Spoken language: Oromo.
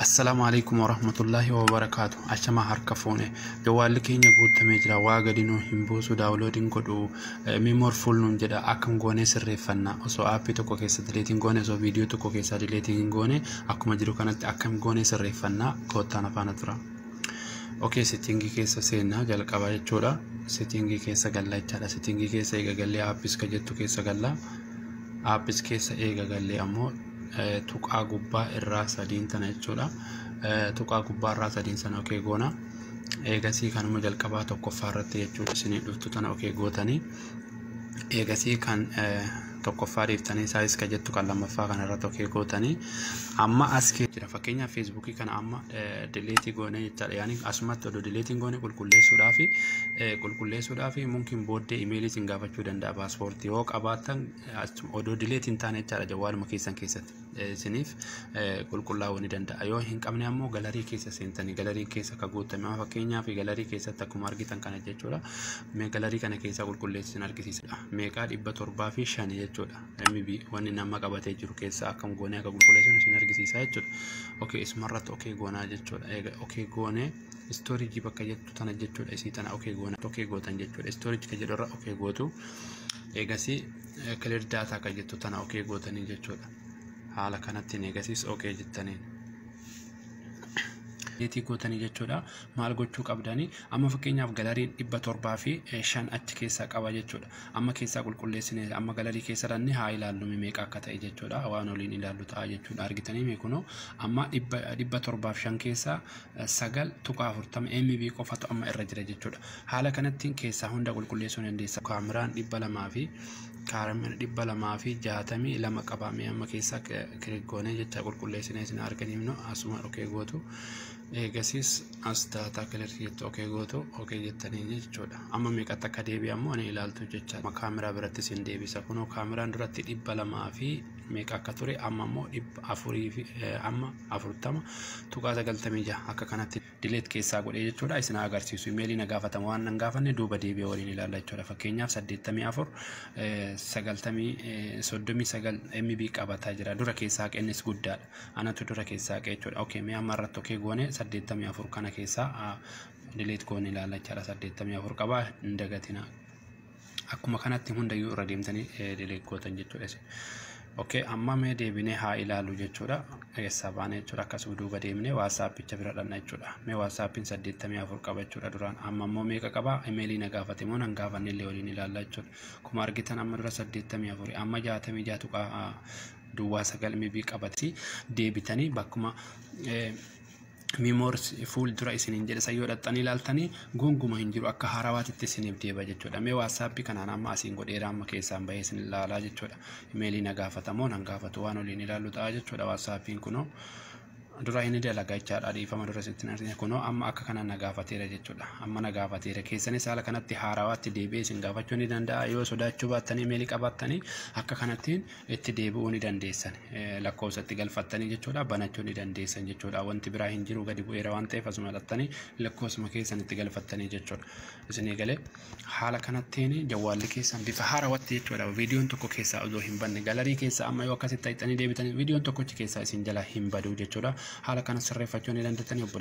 Assalaamu alaikum warahmatullahi wabarakaatu ashama harka fuune jawaalli keenya guuttamee jira waa gadi nuu hin buusu daawuloodiin godhu mimoor fuul nuun jedha akkam goonee sirreeffanna osoo aappii tokko keessa dileetiin goone osoo viidiyoo tokko keessaa dileetiin hin goone akkuma jiru kanatti akkam goonee sirreeffanna koottaan afaana tura okee settingii keessa seennaa jalqaba jechuudha settingii keessa galla jechaadha settingii keessa eega gallee aappis ka jettu keessa galla aappis keessa eega gallee ammoo tuqaa gubbaa irraa sadiin tana jechuudha. Tuqaa gubbaa irraa sadiin sana okee goona. Eegasii kanuma jalqabaa tokkoffaa irratti jechuudha isinii dhuftu tana okee gootanii. Eegasii kan tokkoffaa dhiiftanii saayis ka jettu kan lammaffaa kana irratti okee gootanii. Amma as jira fakkeenyaaf feesbuukii kana amma dileetii goonee jechaadha. Yaani asumatti odoo dileetiin goone qulqulleessuudhaaf qulqulleessuudhaaf mumkin booddee imeelii isin gaafachuu danda'a paaspoortii yoo qabaattan achuma odoo dileet hin taane jechaadha jawwaaluma keessan keessatti eh, isiniif eh, qulqullaa'uu ni danda'a yoo hin qabne ammoo galarii keessa seentanii galarii keessa ka guuttame amma fakkeenyaaf galarii keessatti akkuma argitan kana jechuudha mee galarii kana keessaa qulqulleessi isin argisiisidha meeqaa dhibba torbaa fi shani jechuudha mb wanni nama qabatee jiru keessaa akkam goonee akka qulqulleessan isin argisiisa jechuudha okay isumarratti okay goonaa jechuudha eega okay goonee istooriijii bakka jettu tana jechuudha isii tana okay goonaa okay gootan jechuudha istooriijii ka jedhu irra okay gootu eegasii clear data kan jettu tana ok gootanii jechuudha haala kanattiin eegasiis ok jettaniin deetii gootanii jechuudha maal gochuu qabdanii amma fakkeenyaaf galariin dhibba torbaa fi shan achi keessaa qaba jechuudha amma keessaa qulqulleessine amma galarii keessa ranne haa ilaallu meeqa akka ta'e jechuudha waan oliin ilaallu ta'a jechuudha argitanii meekunoo amma dhibba torbaaf shan keessaa 9.40 MB qofatu amma irra jira jechuudha. Haala kanattiin keessaa hunda qulqulleessuu ni dandeessa. Kaameraan 200 fi kaameraan 262 qabamee amma keessaa kiriggoonee jecha qulqulleessinee isin arganimnu asuma okee gootu. Eegasiis as daataa kilirsi jettu okee gootu okee jettanii jechuudha. Amma meeqatti akka deebi'amu ani ilaaltu jecha kaameraa biratti isin deebisa. Kunoo kaameraan duratti 200 fi meeqa akka ture amma immoo dhibba afurii fi amma afurtama tuqaa sagaltamii jaha akka kanatti dileet keessaa godhee jechuudha isin haa agarsiisu imeelii na gaafatama waan nan gaafanne duuba deebi'ee waliin ilaalla jechuudha fakkeenyaaf saddeettamii afur sagaltamii soddomii sagal MB qabataa jira dura keessaa qennis guddaadha anatu dura keessaa qee jechuudha okay mee amma irratti okay goone saddeettamii afur kana keessaa dileet goone ilaalla jechuudha saddeettamii afur qabaa hin dagatinaa Akkuma kanatti hundayyuu irra deemtanii deleeg gootan jechuudha isin. Okay, amma mee deebinee haa ilaalu jechuudha. Eessaa baana jechuudha akkas duuba deemnee waatsaappicha bira dhanna jechuudha. Mee waatsaappiin saddeettamii afur qaba jechuudha duraan. Amma immoo meeqa qaba? Imeelii na gaafate moo nan gaafanne illee waliin ilaalla jechuudha. Akkuma argitan amma dura saddeettamii afur amma jaatamii jaha tuqaa duwwaa sagal mibii qabati deebitanii bakkuma Mimors fuul dura isiniin jedhe san yoo dhaxxanii ilaaltanii gonguma hin jiru akka haarawaatitti isiniif deeba jechuudha. Mee waatsaappii kanaan amma asiin godheera amma keessaan bahee isin ilaalaa jechuudha. Imeelii na gaafatamoo nan gaafatu waan oliin ilaallu ta'a jechuudha waatsaappiin kunoo. Dura inni dalaga jechaadha dhiifama dura sitti hin argine kunoo amma akka kanaan na gaafateera jechuudha. Amma na gaafateera keessanis haala kanatti haarawaatti deebi'ee isin gaafachuu ni danda'a yoo sodaachuu baattanii imeelii qabaattanii akka kanattiin itti deebi'uu ni dandeessan lakkoofsa itti galfattanii jechuudha banachuu ni dandeessan jechuudha wanti biraa hin jiru gadi bu'eera waan ta'eef asuma dhattanii lakkoofsuma keessan itti galfattanii jechuudha isinii galee haala kanattiin jawwaalli keessan bifa haarawatti jechuudha viidiyoon tokko keessaa osoo hin banne galarii keessaa amma yoo akkasitti ta'anii deebitanii viidiyoon tokkochi keessaa isin jala hin baduu jechuudha haala kana sirreeffachuu ni dandeettanii obboleessa